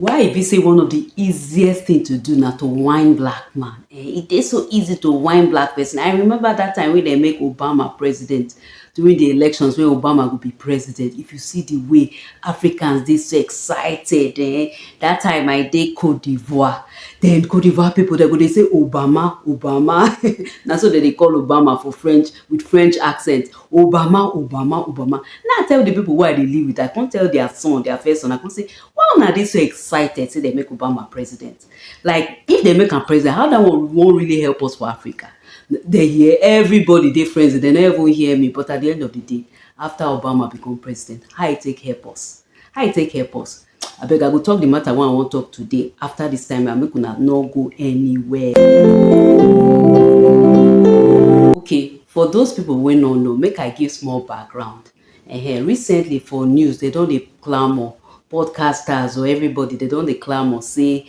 Why e be say one of the easiest thing to do na to whine black man? Eh, e dey so easy to whine black person. I remember that time wey dem make Obama president during the elections when Obama go be president. If you see the way Africans dey so excited, eh, that time I dey Cote d'Ivoire. Then Cote d'Ivoire people dem go dey say Obama, Obama. na so dem dey call Obama for French with French accent. Obama, Obama, Obama. Now I tell the people wey I dey live with, I come tell their son, their first son, I come say, Why una dey so excited say dem make Obama president? Like if dem make am president, how that one wan really help us for Africa? Dem hear everybody dey frenzy, dem no even hear me but at the end of the day, after Obama become president, how e take help us? How e take help us? Abeg I go talk the matter wey I wan talk today after this time and make una no go anywhere. Okay, for those people wey no know, make I give small background. Ehen, recently for news dem don dey clamour, podcasters o, everybody dem don dey clamour sey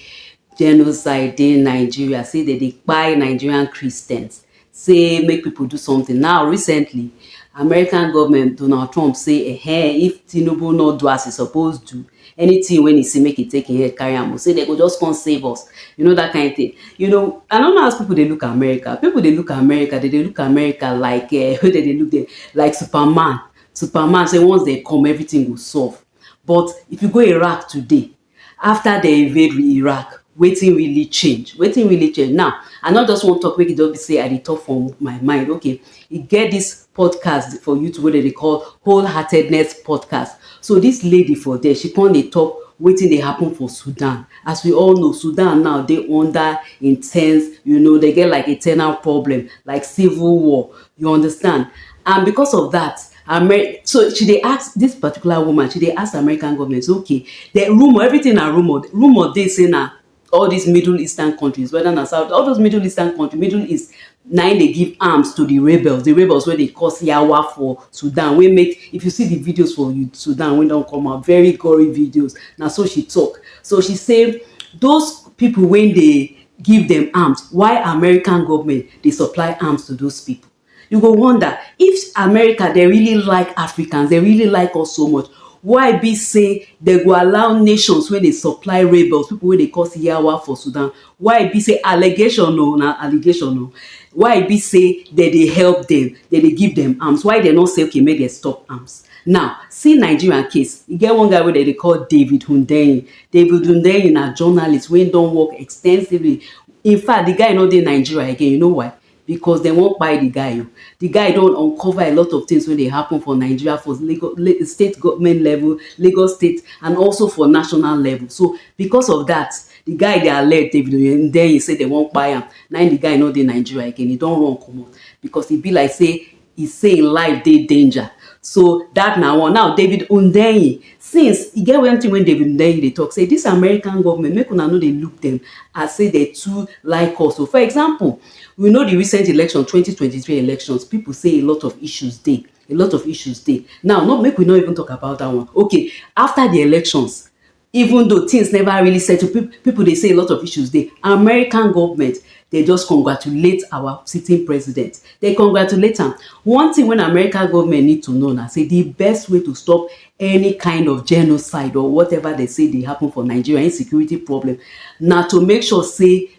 genocide dey Nigeria, sey dem dey kpai Nigerian Christians, sey make pipu do something. Now recently, American government, Donald Trump sey ehen, if Tinubu no do as e suppose do, anything when he say make he take him head carry am o say they go just come save us you know that kind of thing you know i don't know as people dey look america people dey look america they dey look america like uh, they dey look them like superman superman say once they come everything go solve but if you go iraq today after they invade iraq wetin really change wetin really change now i not just wan talk make e just be say i dey talk from my mind okay e get this podcast for YouTube wey dem dey call Wholeheartedness Podcast. So this lady for there, she come dey talk wetin dey happen for Sudan. As we all know, Sudan now dey under intense, you know, they get like internal problem, like civil war. You understand? And because of that, Amer so she dey ask this particular woman, she dey ask American government, okay, the rumor, everything na rumor. Rumor dey say na all dis middle eastern countries whether na south all those middle eastern countries middle east na im dey give arms to the rebels the rebels wey dey cause yawa for sudan wey make if you see the videos for sudan wey don come out very gory videos na so she talk so she say those people wey dey give dem arms why american government dey supply arms to those people You go wonder if America dey really like Africans, dey really like us so much, why be say dey go allow nations wey dey supply rebels, people wey dey cause yawa for Sudan, why be say allegation o, na allegation o, why be say dey dey help dem, dey dey give dem arms, why dey no say okay make dem stop arms. Now, see Nigeria case, e get one guy wey dey dey call David Hundeyin, David Hundeyin na journalist wey don work extensively, in fact, the guy no dey Nigeria again, you know why? because dem wan kpai di guy o, di guy don uncover a lot of things wey dey happen for Nigeria for Lagos state government level, Lagos state and also for national level so because of dat di guy dey alleged David Oyedeyin say dem wan kpai am na im di guy no dey Nigeria again e don run comot because e be like say e say im life dey danger so dat na one. Now David Hundeyin since e get one thing wey David Hundeyin dey talk say dis American government make una no dey look dem as say dem too like us o for example we know the recent election twenty twenty three elections people say a lot of issues dey a lot of issues dey now no make we no even talk about dat one okay after the elections Even though things never really settle, people dey say a lot of issues dey, American government dey just congratulate our sitting president, dey congratulate am. One thing when American government need to know na say the best way to stop any kind of genocide or whatever dey say dey happen for Nigeria, insecurity problem, na to make sure say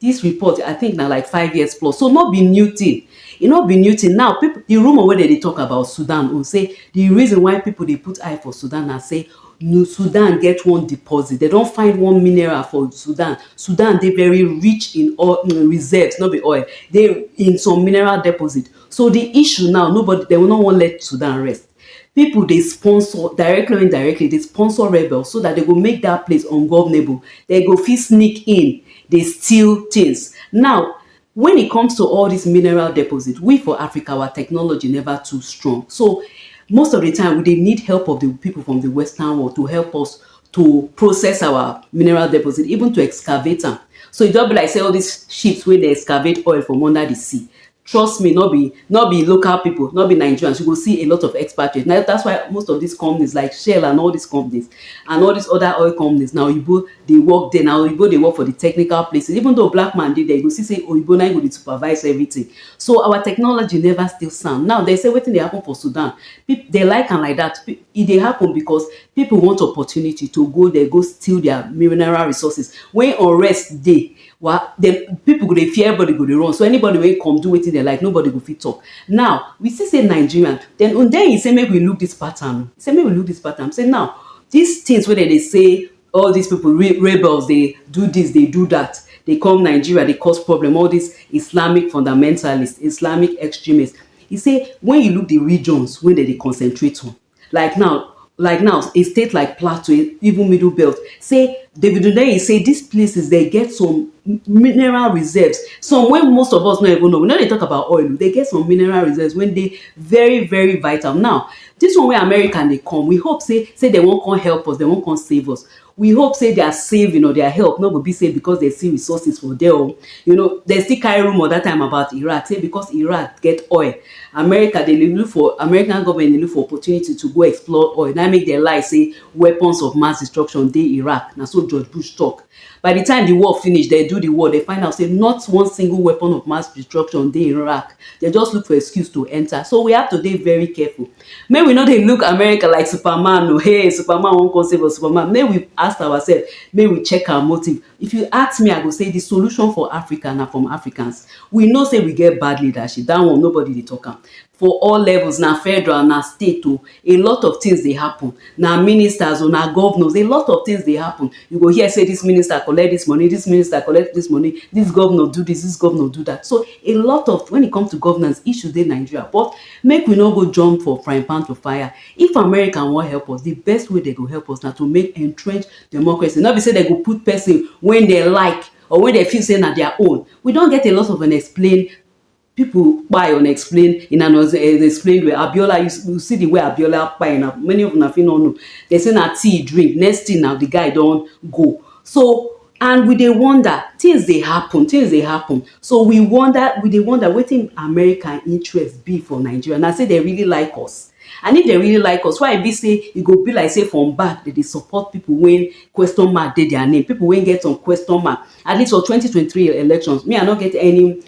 This report, I think na like five years plus, so no be new thing. E no be new thing. Now, people, the rumor wey dem dey talk about Sudan own say the reason why people dey put eye for Sudan na say New Sudan get one deposit. They don find one mineral for Sudan. Sudan dey very rich in oil in reserves, no be oil. They in some mineral deposit. So the issue now, nobody they will not wan let Sudan rest. Pipo dey sponsor, directly or indirectly, dey sponsor rebels so dat dem go make dat place ungovernable, dem go fit sneak in dey steal tins. Now, wen e comes to all dis mineral deposit, we for Africa, our technology neva too strong, so most of di time we dey need help of di pipo from di western world to help us to process our mineral deposit, even to excavate am. So e just be like sey all dis ships wey dey excavate oil from under di sea, trust me no be no be local people no be nigerians you go see a lot of expatriates now that's why most of these companies like shell and all these companies and all these other oil companies now oyibo dey work there now oyibo dey work for the technical places even though black man dey there you go see say oyibo na go dey supervise everything so our technology never still sound now they say wetin dey happen for sudan they like am like that e dey happen because people want opportunity to go there go steal their mineral resources when unrest dey Well, the people go dey fear, everybody go dey run. So anybody wey come do wetin dem like, nobody go fit talk. Now, we see say Nigerian, then Hundeyin say make we look this pattern. He say make we look this pattern. He say now, these things wey dem dey say all these people re rebels dey do this, dey do that, dey come Nigeria, dey cause problem, all these Islamic fundamentalists, Islamic extremists. He say when you look the regions wey dem dey concentrate on, like now like now a state like plateau even middle belt sey David Hundeyin sey dis places dem get some mineral reserves some wey most of us no even know we no dey talk about oil dem get some mineral reserves wey dey very very vital now dis one wey America dey come we hope sey sey dem wan come help us dem wan come save us We hope say their saving or their help no go be say because dem see resources for there o. You know, dem still carry rumour that time about Iraq say because Iraq get oil, America dey dey look for American government dey look for opportunity to go explore oil. Na im make dem lie say weapons of mass destruction dey Iraq. Na so George Bush talk. By the time the war finish, dem do the war, dem find out say not one single weapon of mass destruction dey Iraq. Dem just look for excuse to enter. So we have to dey very careful. Make we no dey look America like superman o hey superman wan come save us superman make we ask ourself make we check our motive if you ask me I go say the solution for Africa na from Africans we know say we get bad leadership that one nobody dey talk am for all levels na federal na state o a lot of things dey happen na ministers o na governors a lot of things dey happen you go hear say this minister collect this money this minister collect this money this governor do this this governor do that so a lot of when it come to governance issues dey Nigeria but Make we no go jump for frying pan to fire, if America wan help us, di best way dem go help us na to make entrenched democracy, no be say dem go put person wey dem like or wey dem feel say na dia own, we don get a lot of unexplained pipu kpai unexplained in an unexplained way, Abiola you you see di way Abiola kpai na, many of una fit no know, dem say na tea e drink, next thing na di guy don go, so and we dey wonder tins dey happun tins dey happun so we wonder we dey wonder wetin America interest be for Nigeria na say dem really like us and if dem really like us why e be say e go be like say from back dem dey support pipo wey question mark dey dia name pipo wey get some question mark at least for twenty twenty three elections me I no get any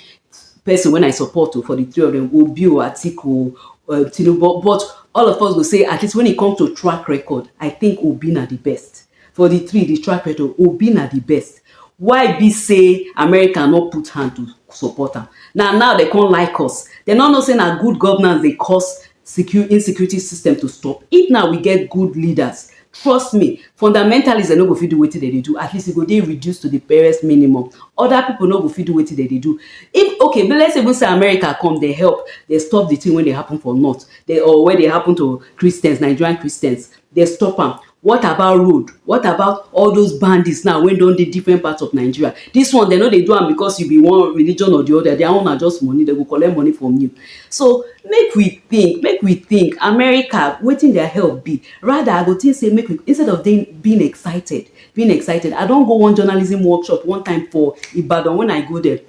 pesin wey I support o for di three of dem Obi o Atiku o Tinubu but all of us go say at least wen e come to track record I tink Obi na di best For di three di strike pressure o, Obi na di best. Why be say America no put hand to support am? Na now dem come like us? Dem no know say na good governance dey cause secu insecurity system to stop? If na we get good leaders, trust me, fundamentalists dem no go fit do wetin dem dey do, at least e go dey reduce to di barest minimum. Other people no go fit do wetin dem dey do. If okay but let's even say America come, dem help, dem stop di thing wey dey happen for north, dem or wey dey happen to Christians, Nigerian Christians, dem stop am. What about road? What about all those bandits now wey don dey different parts of Nigeria? This one dem no dey do am because you be one religion or the other. Their own na just money. Dem go collect money from you. So make we think, make we think. America, wetin their help be? Rather, I go think say make we instead of dey being excited, being excited. I don go one journalism workshop one time for Ibadan when I go there.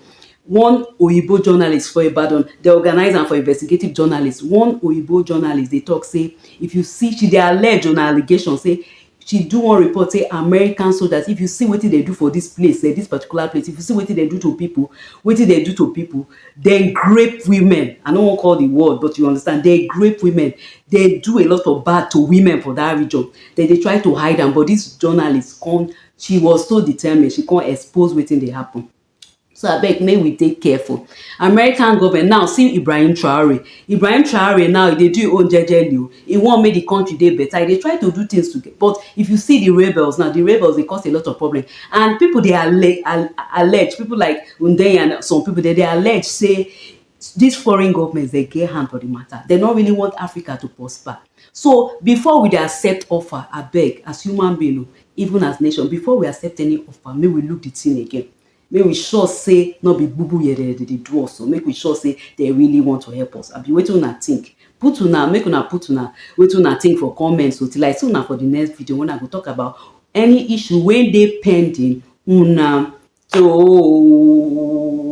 One Oyibo journalist for Ibadan dey organize am for investigative journalist One Oyibo journalist dey talk say if you see she dey allege on allegation say she do one report say American soldiers if you see wetin dem do for this place eh this particular place if you see wetin dem do to people wetin dem do to people dem grape women I no wan call the word but you understand dem grape women dem do a lot of bad to women for that region dem dey try to hide am but this journalist come she was so determined she come expose wetin dey happen. so abeg make we dey careful American government now see Ibrahim Traore Ibrahim Traore now e dey do im own jejely o e want make the country dey better e dey try to do things to get but if you see the rebels now the rebels dey cause a lot of problem and people dey alle alle allege people like Hundeyin and some people dem dey allege say dis foreign governments dem get hand for di mata, dem no really want Africa to prosper so before we dey accept offer abeg as human being o even as nation before we accept any offer make we look di tin again make we sure say no be bubu yere dem dey do us o make we sure say dem really want to help us abi wetin una tink put una make una put una wetin una tink for comments o till I see una for di next video wen I go tok about any issue wey dey pending una too.